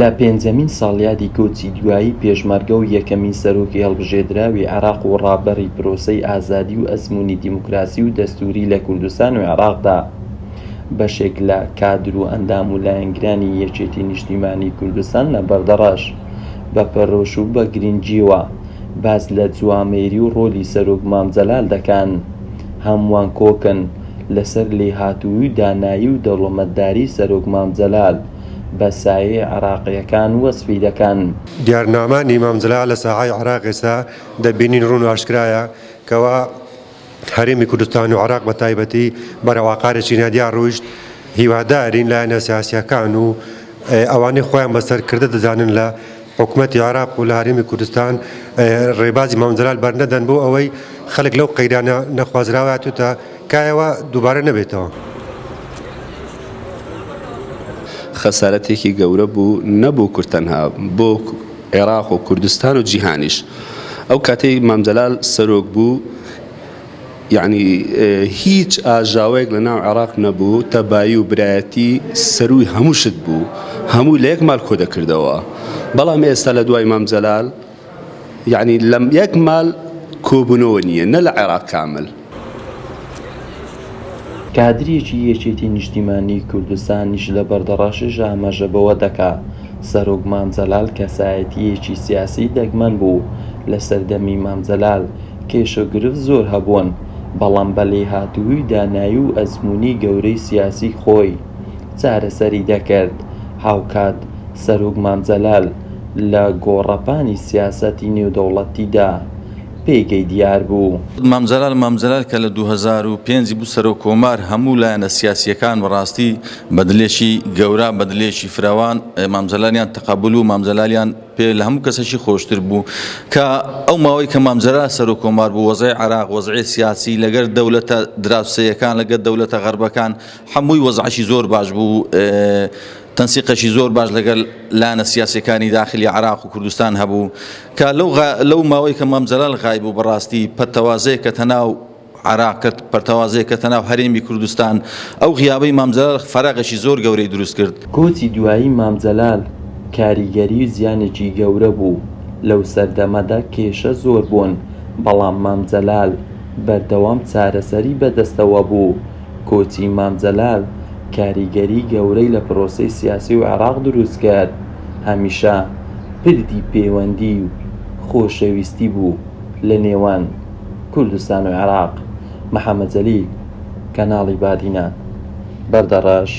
لە پێنجەمین ساڵیادی کۆچی دوایی پێشمەرگە و یەکەمین سەرۆکی هەڵبژێدراوی عێراق و ڕابەری پرۆسەی ئازادی و ئەزموونی دیموکراسی و دەستووری لە کوردستان و عێراقدا، بەشێک لە کادر و ئەندام و لایەنگرانی یەکێتی نیشتیمانی کوردستان لە بەردەڕەش، بە پەرۆش و بە گرنگییەوە باس لە جوامێری و ڕۆلی سەرۆک مام جەلال دەکەن. هەمووان کۆکن. لەسەر لێهاتووی و دانایی و دەوڵەمەتداری سەرۆک مام جەلال بە سایەی عێراقییەکان وەسفی دەکەن. دیارنامانی مام جەلال لە ساحەی عێراق ئێستا دەبینین ڕوون و ئاشکرایە کەوا هەرێمی کوردستان و عێراق بە تایبەتی بەرەو ئاقارێکی نادیار ڕۆیشت، هیوادارین لایەنە سیاسییەکان و ئەوانەی خۆیان بە سەرکردە دەزانن لە. حکومەتی عێراق و لە هەرێمی کوردستان ڕێبازی مام جەلال بەرنەدەن بۆ ئەوەی خەڵک لەو قەیرانە نەخوازراوە هاتوتە کایەوە دووبارە نەبێتەوە. خەسارەتێکی گەورە بوو نە بۆ کورد تەنها بۆ عێراق و کوردستان و جیهانیش ئەو کاتەی مام جەلال سەرۆک بوو، یەعنی هیچ ئاژاوەیەک لە ناو عێڕاق نەبوو، تەبایی و برایەتی سەرووی هەموو شت بوو، هەمووی لە یەک مال کۆدەکردەوە، بەڵام ئێستا لە دوای مام جەلال یەعنی لە یەک مال کۆبوونەوە نییە نە لە عێڕاق کامل. کادریەکی یەکێتی نیشتیمانی کوردستانیش لە بەردەڕەشیش ئاماژە بەوە دەکا، سەرۆک مام جەلال کەسایەتییەکی سیاسی دەگمەن بوو، لە سەردەمی مام جەلال، کێشە و گرفت زۆر هەبوون، بەڵام بە لێهاتوویی و دانایی و ئەزموونی گەورەی سیاسی خۆی چارەسەری دەکرد. هاوکات سەرۆک مام جەلال لە گۆڕەپانی سیاسەتی نێودەوڵەتیدا پێگەی دیار بوو. مام جەلال مام جەلال کە لە دوو هەزار و پێنج بوو سەرۆک کۆمار، هەموو لایەنە سیاسییەکان بە ڕاستی بە دلێکی گەورە، بە دلێکی فرەوان مام جەلالیان تەقەبوول و مام جەلالیان، پێ لە هەموو کەسەکی خۆشتر بوو کە ئەو ماوەی کە مامجەرا سەرۆک کۆمار بوو وەزای عراق وەزعی سیاسی لەگەر دەولەتە دراوسەیەکان لەگەر دەولەتە غەربەکان هەمووی وەزعکی زۆر باش بوو تەنسیقەشی زۆر باش لەگەل لایەنە سیاسەکانی داخلی عراق و کوردستان هەبوو کە لەو لەو ماوەی کە مام جەلال غای بوو بەڕاستی پەتەوازەیە کە تەناو عێراق کرد، پەرتەوازەیەک کەتە ناو هەرێمی کوردستان، ئەو غیابەی مام جەلال فەراغێکی زۆر گەورەی دروست کرد. کۆچی دوایی مام جەلال کاریگەری و زیانێکی گەورە بوو، لەو سەردەمەدا کێشە زۆر بوون، بەڵام مام جەلال بەردەوام چارەسەری بەدەستەوە بوو، کۆچی مام جەلال کاریگەری گەورەی لە پرۆسەی سیاسی و عێراق دروست کرد، هەمیشە پردی پێوەندی و خۆشەویستی بوو. لە نێوان کوردستان و عێراق، محەمەد جەلیل، کەناڵی بادینان، بەردەڕەش،